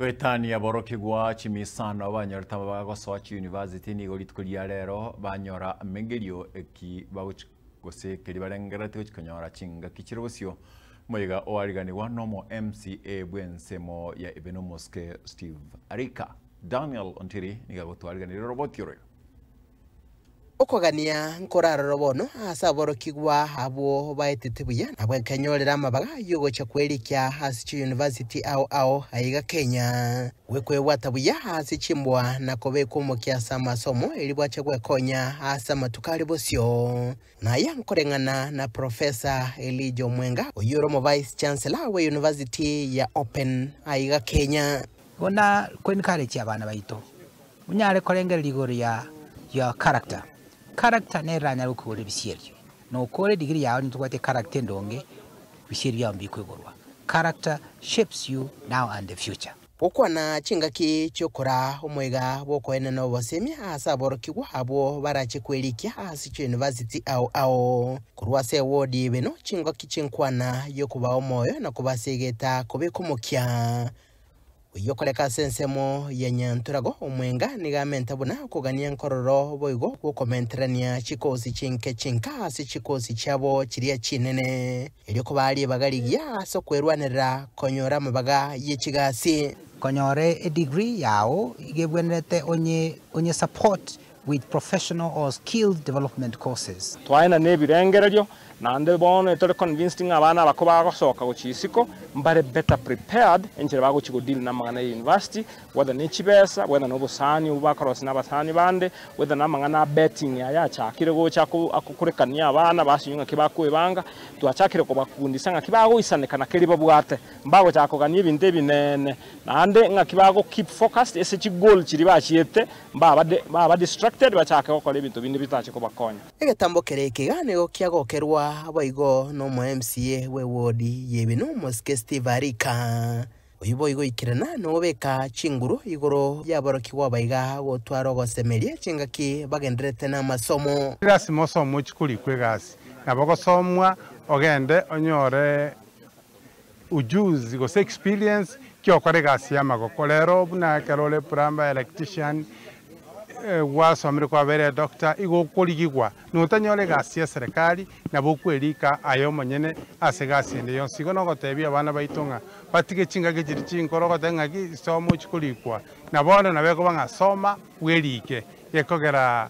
Goetania aborokigwa chimisano abanyorete aba bagosoa chiuniversity nigo rituko ria rero banyora megerio eki bagochi gose ekeri barengerereti gochi konyora chingaki chire bosio moiga oariganigwa nomo MCA bw'ensemo ya Ibenomoske Steve Arika. Daniel Ontiri nigo agotwariganera oroboti oroyio. Okogania nkoraroro bono ase aborokigwa abwo baetete buya nabwo ekenyorera amabaga y'ogocha kwerikia ase chiyunivasiti ao ao aiga Kenya, gwekwebwata buya ase chimboa na kobekwa omokia ase amasomo erio bwache gwekonya ase amatuko are bosio. Naya nkoreng'ana na Professor Elijah Omwenga oyio ore omovice chancellor bwe yunivasiti ya Open aiga Kenya. Buna koencourage abana baito Onyare korengereria igoro ya your character. Character nero eranyare gokoigorera ebisierio. Nokore degree yao onye tobwati echaracter endonge, ebisierio biao mbikoigorwa. Character shapes you now and the future. Gokwana chingaki chi'okora omoiga bw'okoenena obosemi ase aborokigwa abwo barache kwerikia ase chiuniversity ao ao. Korwa ase ewodi y'ebeno, chingaki chinkwana y'okobao moyo na kobasegeta kobeka omokia. Oyio okoreka ase ensemo ya Nyantorago omwenga nigo amente buna okogania nkororo boigo gw'okomenterania chikoosi chinke chinka ase chikoosi chiabo chiria chinene, erio kobaa ribaga rigiya ase okwerwanerera konyora amabaga ye chigasi. Konyora edigri yao igo ebwenerete onye support with professional or skilled development courses. Twaenda nebirengererio, naende bono etore convinced ng'a abana aba kobagosoka gochia isiko, mbare better prepared enchera bagochia godeal namang'ana ya university, whether nechibesa, whether nobosani obwo bakorosia nabasani bande, whether namang'ana a betting aya achakire gocha akokurekania abana basinywe ng'aki bakoebanga. Twachakire kobakundisa ng'aki bagoisaneka na keria babwate, mbagochaka kogania ebinto ebinene, naende ng'aki bagokeep focused ase chigoal chiria bachiete. Mbabade, mbaba distracted bachake gokora ebinto binde bitache kobakonya. Egetambo keria ekegaanigo kiagokerwa boigo n'omo-MCA bwe ward y'Ebino omosike Steve Arika. Oyio boigo oikerana nogobeka chinguru igoro y'aborokigwa abaiga gotwara ogosemeria chingaki bagendererete namasomo. Lasima osome ochikorikwa egasi nabo ogosomwa ogende onyore ujuzi gose experience kiokora egasi yamagoko rero buna ekero ore plumber, electrician gwasomire kwabaire doctor igo okorigigwa notanyora egasi ya serikali nabo okwerika aye omonyene ase egasi ende yonsi igo nogotebia abana baito ng'a batige chingaki chiria chinkoro ogoteba ng'aki soma ochi korikwa na bono nabo ekoba ng'a soma bwerike gekogera